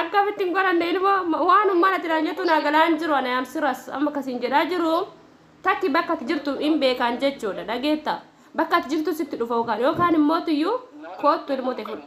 Akkamitti hin godhanne ilmoo waan ummana jiraan jettu naa galaan jiru ana yaam siras amma kasiin jedhaa jiru takki bakka ati jirtu hin beekaan jechuudha dhageetta bakka ati jirtu sitti dhufa yookaan yookaan immoo tiyyuu koottu ilmoo ta'e fudhu.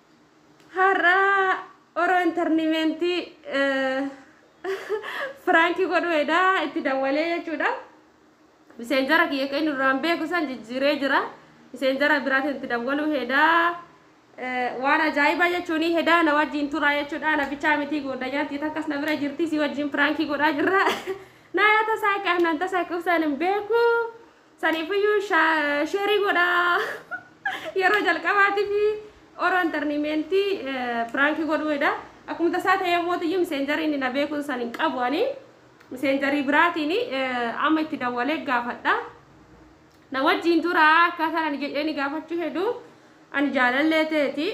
Har'a oro internimentti prank godhu heda itti dawwalee jechuudha. Miseenjara kiyya kan inni duraan beeku san jijjiiree jira. Miseenjara biraatiin itti dawwalu heda waan ajaa'ibaa jechuun heda na wajjin tura jechuudha. Na bichaa mitii goodanyaan tii takkas na bira jirti si wajjin prank godhaa jirra. Naaya tasaa qaanaan tasaa qubsaan hin beeku. Saniifiyyuu sheerii godhaa. Yeroo jalqabaatiif oro intarniimeentii piraankii godhuudha. Akkuma tasaa ta'ee mootiyyuu miseenjarii inni na beekuun san hin qabu ani. Miseenjarii biraatiin amma itti dawwalee gaafadha. Na wajjiin turaa akkaataan ani jedhee ni gaafachuu hedu ani jaalallee ta'eeti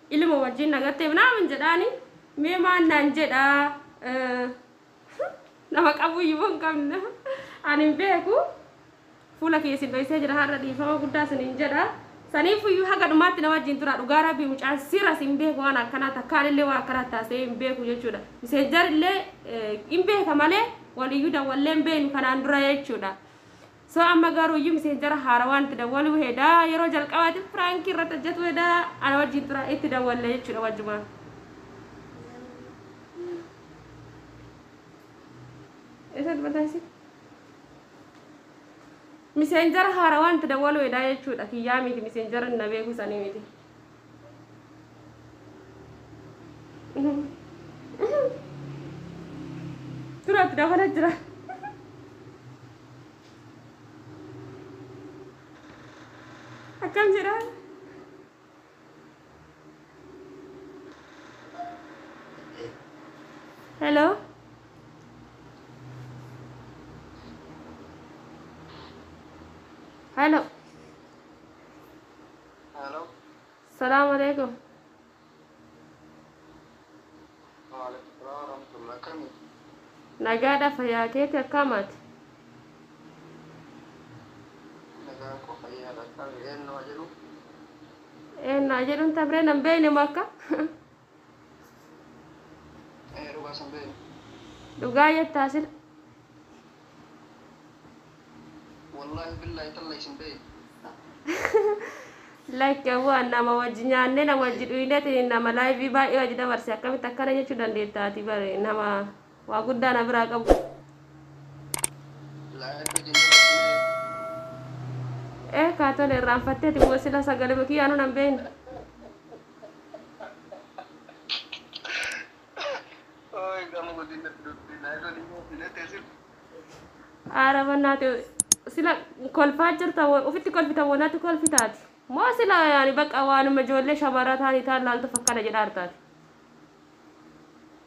ilma wajjiin na gatteef naaman jedhaani mee maan naan jedhaa. Nama qabuu iyyuu hin qabne. Ani hin beeku. Fuula kiyya isin dhoysee jira har'a dhiifama guddaa isiniin jedha. Saniifuu iyyuu haga dhumaatti na wajjin turaa dhugaa rabbii mucaan siras hin beeku waan akkanaa takkaan illee waan akkanaa taasee hin beeku jechuudha. Miseenjar illee hin beeka malee waliyyuu dawwallee hin beeknu kanaan dura jechuudha. So amma garu iyyu misenjara haarawaan itti dawwaluu heda yeroo jalqabaatif prank irratti hojjatu heda ana wajjin tura itti dawwalle jechudha wajjumaan Esa dubata isi misenjara haarawaan itti dawwaluu heda jechudha kiyyaa miti misenjara na beeku sanii miti Turat dabala jira. Akkam jedha? Hello. Hello. Hello. Salaam alaikum. Waalaikum salaam warahmatullahi akkami? Nagaadha fayyaa keeti akkaamaati? Nagaan koo fayyaadha akkami? Eenyuma jedhu? Eenna jedhuun tabree nan beeyne makka. Dhugaa jettaa sil. Lakki awwaan nama wajji nyaannee nama wajji dhuyneetiin nama laayivii baay'ee wajji dabarse akkamitti akkana jechuu dandeetta ati bare nama waa guddaa na biraa qabu. Eh kaa tole irraanfatteeti moo sila sagalee kiyyaanuu nan beekne. Aara bannaati sila kolfaa jirta wa- ofitti kolfita wanati kolfitaati moo sila yaani baqa waanuma ijoollee shamarraa taanii taan laaltuuf akkana jedha hartaati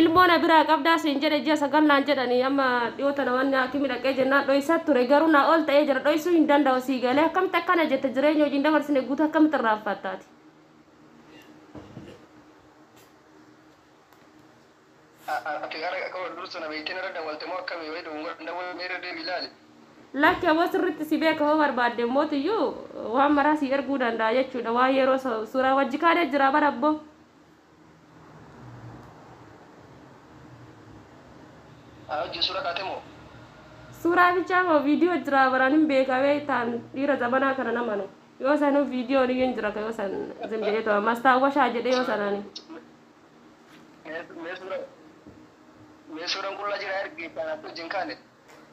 Ilmoo na biraa qabdaa siin jedhe ji'a sagal naan jedhani amma dhiyoo tana wanni haakimi dhaqee jennaan dhoysa ture garuu naa ol ta'ee jira dhoysuu hin danda'u sii galee akkamitti akkana jetta jireenya wajjin dabarsine guutuu akkamitti irraanfatta ati. Ati gara akka wal dursu na beektee narra dawwalte moo akkami wayii dogongora hin dawwalle mee irra deebi'i ilaali. Lakki aboo sirritti si beeka hoo barbaadde mootiyyuu waan maraa sii erguu danda'a jechuudha waan yeroo suuraa wajji kaanee jira bara abboo. Ana wajjin suura kaate moo? Suuraa bichaa moo viidiyoo jiraa baraan hin beekaa beektaan dhiira zamanaa kana namanu. Yoo sanuu viidiyoon iyyuu hin jira ka yoo san zim jedhee too mastaawwashaa jedhee yoo sanaani. Mee suura mee suuraan qullaa jira ergi kan akka wajjin kaane.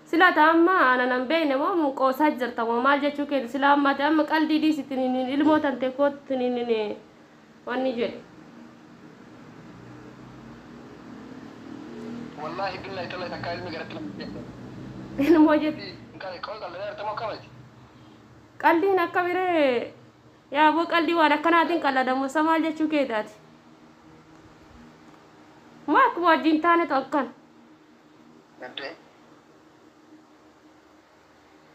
Sila ati amma ana nan beekne moo mun qoosaa jirta moo maal jechuu keeti sila amma ati amma qaldii dhiisi tininiin ilmoo tantee koottu tininiin wanni jedhe. Wallahi billahi tallahi takkaa ilmi garatti nama hin seenne. Ilmoo jette. Qaldi qal- qoy qalda dheerte moo kamati? Qaldiin akka biree yaa boo qaldii waan akkanaatiin qaladamu sa maal jechuu keeti ati. Moo akkuma wajjin taanetu akkan. Gaddee.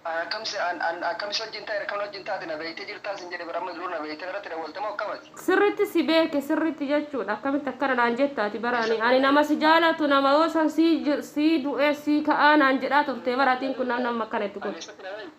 An akkam si an an akkam si wajjin ta'eera akkam na wajjin taate na beektee jirtaa sin jedhe bar amma dur na beektee narratti dawwalte moo akkam ati. Sirritti si beeke sirritti jechuudha akkamitti akkana naan jetta ati bar ani ani nama si jaalatu nama yoo san sii ji sii du'ee sii ka'aa naan jedhaa turtee bar atiin kun namni amma akkana itti kun. Ani eessatti na beekte.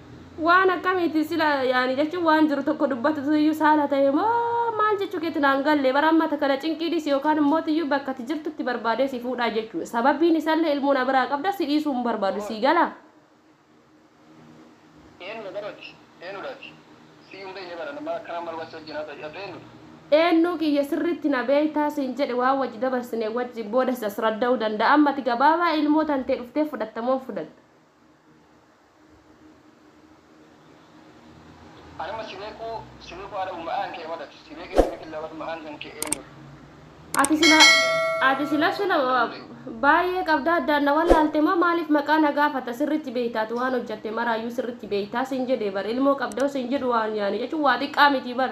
Waan akkamiiti sila yaani jechuun waan jiru tokko dubbatutu iyyuu saala ta'e moo maal jechuu keeti naan galle bara amma kana cinqii dhisi yookaan immoo iyyuu bakka ati jirtutti barbaadee si fuudhaa jechuu sababiin isallee ilmoo na biraa qabda si dhiisuu hin barbaadu sii galaa. Eenu na bara ati eenu dha ati siyyuu hin beekne bara nama akkanaa maal waan si wajjin haasa'u ati eenu dha. Eennuu kiyya sirriitti na beektaa siin jedhe waan wajji dabarsine wajji booda si asradda'uu danda'a amma ati gabaabaa ilmoo tantee dhuftee fudhatta moo hin fudhanne. Anama si beku si beku ada uma an ke wadat si beke si beke lawat ma an kan ke enur. Ati sila ati sila sila baay'ee qabda addaan na wallaalte moo maaliif maqaa na gaafata sirritti beeyta ati waan hojjatte maraayyuu sirritti beeyta siin jedhe bar ilmoo qabda siin jedhu waan yaani jechuun waa xiqqaa miti bar.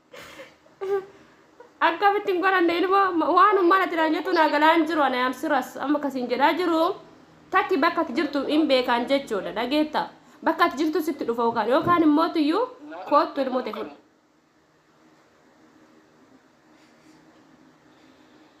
akkamitti hin godhanne ilmoo waan ummana jiraan jettu naa galaan jiru ana yaam siras amma kasiin jedhaa jiru takki bakka ati jirtu hin beekaan jechuudha dhageetta bakka ati jirtu sitti dhufa yookaan yookaan immoo tuyyuu koottu ilmoo ta'e fudhu.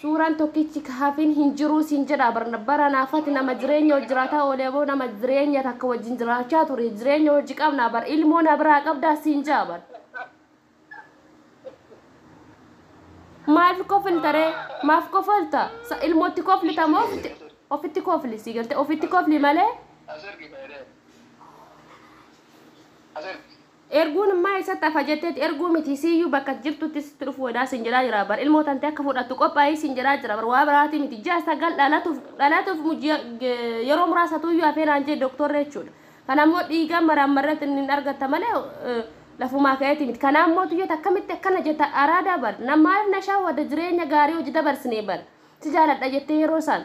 Suuraan tokkichi ka hafin hin jiruu siin jedhaa bar baranaa fati nama jireenya wal jiraataa oolee moo nama jireenya takka wajjin jiraachaa ture jireenya hojji qabnaa bar ilmoo na biraa qabdaa siin jaa bar maaf koflta ree maaf kofalta sa ilmootti koflita moo ofitti ofitti kofli sii galte ofitti kofli malee Asirgi dheedee. Asirgi. Erguun immaa eessatti hafa jetteeti erguu miti siiyyuu bakka ati jirtutti sitti dhufuu hedaa siin jedhaa jiraa bar ilmoo tantee akka fudhattu qophaa'ii siin jedhaa jira bar waa biraatii miti ji'a sagal dhalatuuf dhalatuuf ji'a yeroo muraasatuuyyuu hafee naan jee doktorri jechuudha kana immoo dhiigaan maraammarreet inni hin argatta malee lafumaa ka'eeti miti kanaa immoo tuyyoota akkamitti akkana jetta araadaa bar na maaliif na shawwada jireenya gaarii hojii dabarsinee bar si jaaladha jettee yeroo isaan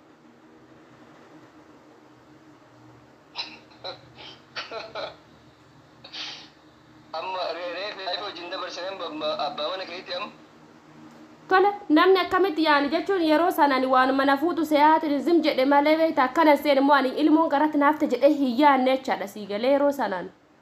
Amma re- reefi reefi wajjin dabarsine amma abbaa mana keetti amma. Tole namni akkamitti yaani jechuun yeroo sana ani waanuma na fuutu seeyaatiin zim jedhe malee beekta akkana seen immoo ani ilmoon garatti naafte jedhee hin yaanne jechaadha sii galee yeroo sanaan.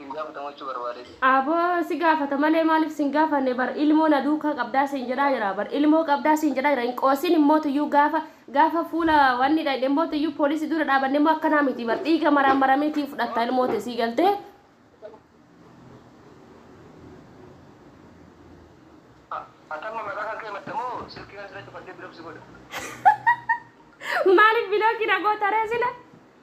Hin gaafatamuu jechuu barbaadee. Abo si gaafata malee maalif sin gaafanne bar ilmoo na duukaa qabdaa siin jedhaa jira bar ilmoo qabdaa siin jedhaa jira hin qoosin immoo tuyyuu gaafa gaafa fuula wanni dhayne immoo tuyyuu poolisi dura dhaabanne immoo akkanaa miti bar dhiiga maraan maramee tiin fudhatta ilmoo te sii galtee Atamma maqaa kan kee matta moo silkii kan sila cufadhee bilobsi godha. maalif bilooki na gootaree sila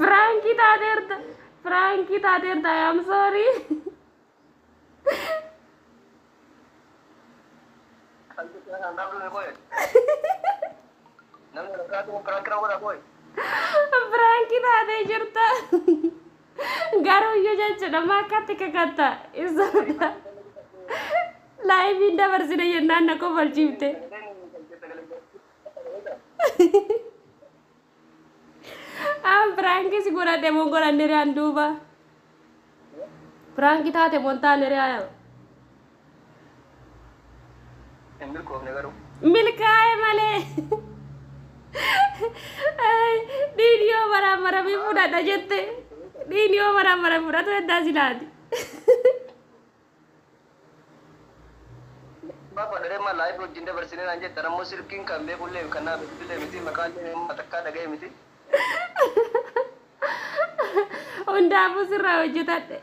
Piraankii taateerta. Piraankii taateerta. I am sorry. Piraankii taatee jirta. Garuuyyuu jechuudha maakkaatti kakatta isaadha. Laayiviin dabarsine jennaan na kofalchiifte. An piraankii si godhadhe moo godhanne riyaan duuba. Piraankii taate moo hin taane riyaan. Hin milkoofne garuu. Milkaa'e malee. Dhiigni yoo maraamaramee fudhadha jette. Dhiigni yoo maraamaramee fudhatu heddaa silaati. Bafa dharee maal laayif wajjin dabarsine naan jettan ammoo silkiin kan beekullee kan naa bilbilee miti maqaallee amma takkaa dhaga'e miti. Hundaafuu sirraa hojjetadhe.